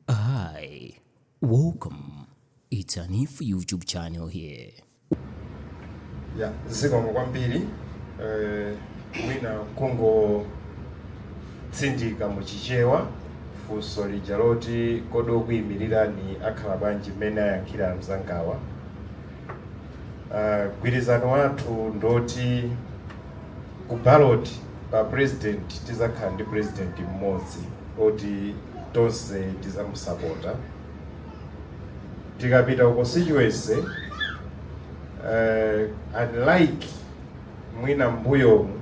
Hi, welcome. It's Hanif YouTube channel here. ya zikomo kwambiri eh, mwina kungotsindika mu chichewa funso lija loti kodi okuyimirirani akhala bwanji mmene ayankhulira mzangawa Ah, gwirizano wathu ndoti Ku ballot pa president tizakhala ndi president mmodzi oti tonse tizamusapota. Tikapita ku constituency uh, unlike mwina mbuyomu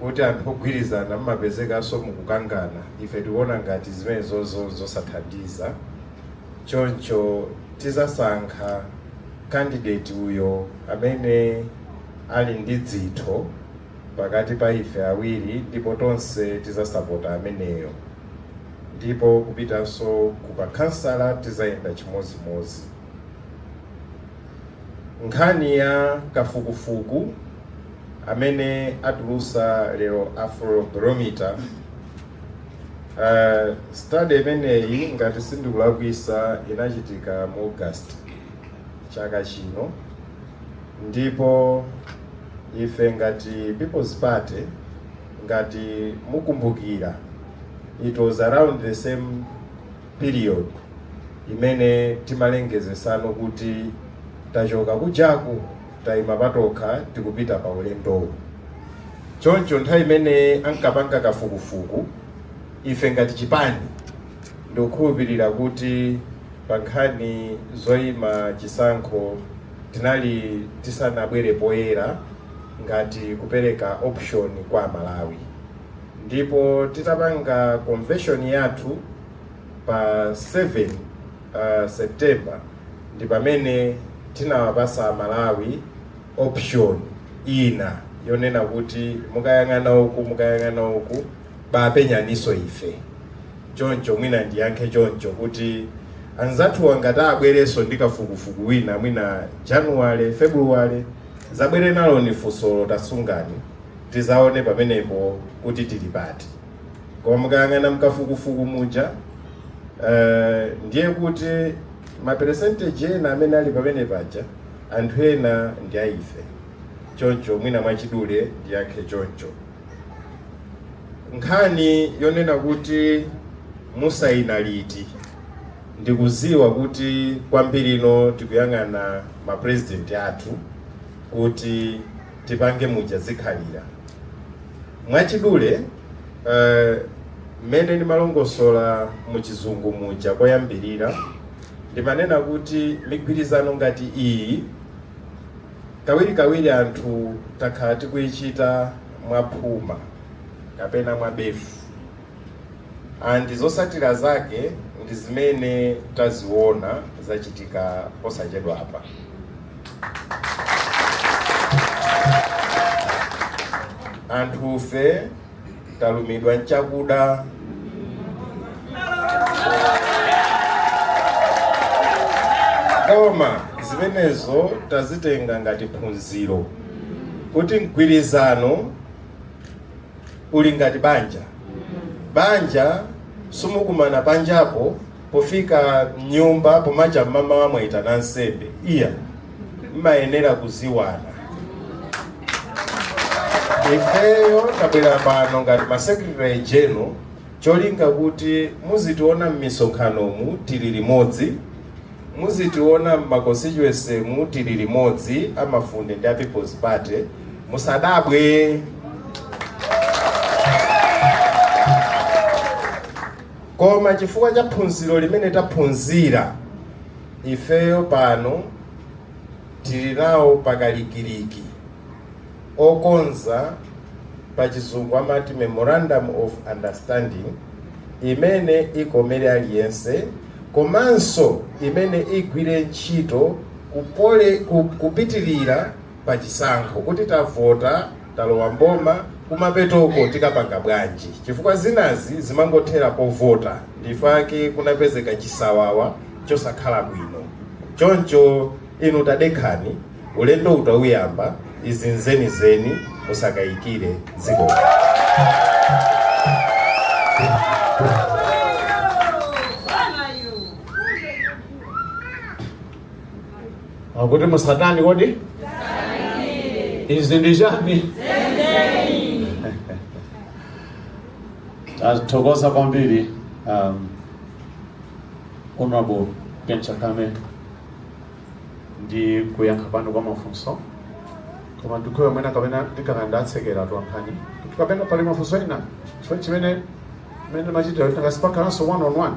kuti anthu ogwirizana mmapezekanso mukukangana ife tikuona ngati zimenezozo zosathandiza choncho tizasankha candidate uyo amene ali ndi dzitho pakati pa ife awiri ndipo tonse tizasapota ameneyo ndipo kupitanso kwa makhansala tizayenda chimozimozi nkhani ya kafukufuku amene atulusa lero afrobarometer uh, study imeneyi ngati sindikulakwisa inachitika mu august chaka chino ndipo ife ngati peoples party ngati mukumbukira it was around the same period imene timalengezetsano kuti tachoka kujaku tayima patokha tikupita pa ulendowu choncho nthawi imene ankapanga kafukufuku ife ngati chipani Ndikukhulupirira kuti pa nkhani zoima chisankho tinali tisanabwere poyera ngati kupereka option kwa Amalawi ndipo titapanga convention yathu pa 7 uh, September ndi pamene tinawapasa Amalawi option ina yonena kuti mukayang'ana uku mukayang'ana uku Bapenyaninso ife choncho mwina ndiyankhe choncho kuti anzathuwa ngati abwerenso ndi kafukufuku wina mwina January, February zabwere naloni, funsolo tasungani tizaone pamenepo kuti tili pati koma mukayang'ana m'kafukufuku muja uh, ndiye kuti ma percentage ena amene ali pamenepaja anthu ena ndi aife choncho mwina mwachidule ndiyankhe choncho nkhani yonena kuti musayina liti ndikuziwa kuti kwambiri ino tikuyang'ana ma president athu kuti tipange muja zikhalira mwachidule eh, mmene uh, ndimalongosola muchizungu muja koyambirira ndimanena kuti migwirizano ngati iyi Kawirikawiri anthu takhala tikuichita mwa phuma kapena mwa befu and zotsatira zake ndi zimene taziona zachitika posachedwapa. Anthufe talumidwa nchakuda koma zimenezo tazitenga ngati phunziro kuti mgwirizano uli ngati banja banja simukumana panjapo Pofika mnyumba pomacha mmamawa mwaitana ansembe iya mmayenera kuziwana ifeyo tabwera pano ngati ma secretary general cholinga kuti muzitiona mmisonkhanomu tili limodzi muzitiona mma constituency mu tili limodzi amafunde ndi a people's party musadabwe koma chifukwa cha phunziro limene taphunzira ifeyo pano tili nawo pakalikiliki okonza pa chizungu amati memorandum of understanding imene ikomere aliyense komanso imene igwire ntchito kupitirira pachisankho kuti tavota talowa mboma kumapetoko tikapanga bwanji chifukwa zinazi zimangothera povota ndi chake kunapezeka chisawawa chosakhala bwino choncho inu tadekhani ulendo utauyamba izi nzenizeni musakayikire dziko akuti musatani kodi izi ndi chani tathokoza kwambiri honorable Chakwame ndi kuyankha kwanu kwa mafunso koma ndikuona mwina kapena ndikana ndatsekera twankhani kapena pali mafunso ena chimene mene machitira kuti ngasipakananso one on one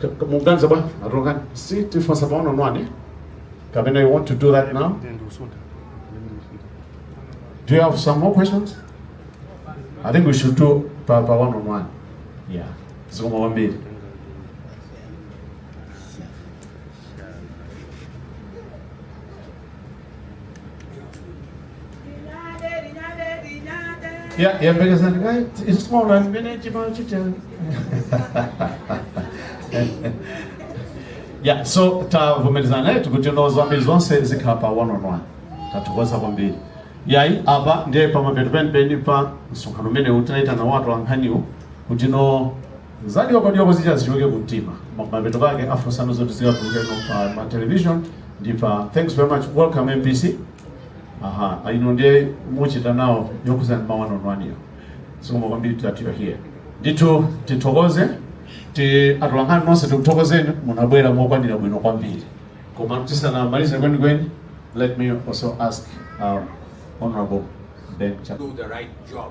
Ka- ka- Muganiza bwana, atulukani. Si tifunsa pang'ono one. Kapena you want to do that now? Do you have some more questions? I think we should do pa, pa one on one. Yeah. Zikomo kwambiri. Yeah, yeah, because then, right, it's small, I've been at your Yeah, so tavomerezana nawo kuti no zambiri zonse zikhala pa one on one tathokoza kwambiri yayi apa ndiye pamapeto penipeni pa msonkhano umenewu tinaitanira atolankhaniwo kuti no Za dyokodyoko zija zichoke ku mtima koma mapeto kwake afunsano zoti zikatuluke no pa ma television ndi pa thanks very much welcome MBC aha ino ndiye muchita nawo yokuzana pa one on one-yo zikomo kwambiri that you are here ndithu tithokoze atolankhani nonse tikuthokozeni munabwera mokwanira bwino kwambiri koma tisanamalize kwenikweni let me also ask um, honorable Ben Chapman. do the right job.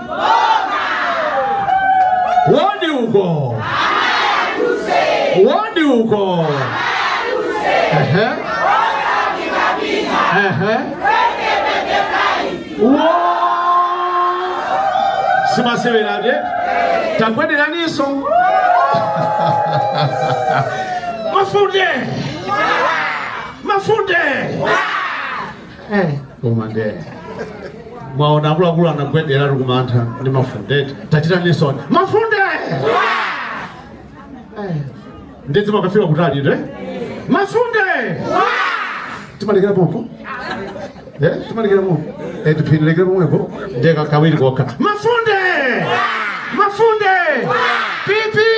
Wodi uko. Wodi uko. Ehe. Ehe. Wo. Simasewelade. Takwenderaniso. Mafunde. Mafunde. eh koma nde mwaona akuluakulu akunjenjemera ndi mantha ndi mafunde tachitaninso mafunde Eh, nde zimakafika kutali nde mafunde timalekera pompo Eh, timalekera pompo Eh, tizilekera pomwepo nde ka- kawiri kokha mafunde mafunde pipi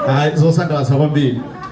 Ayi, zosangalatsa kwambiri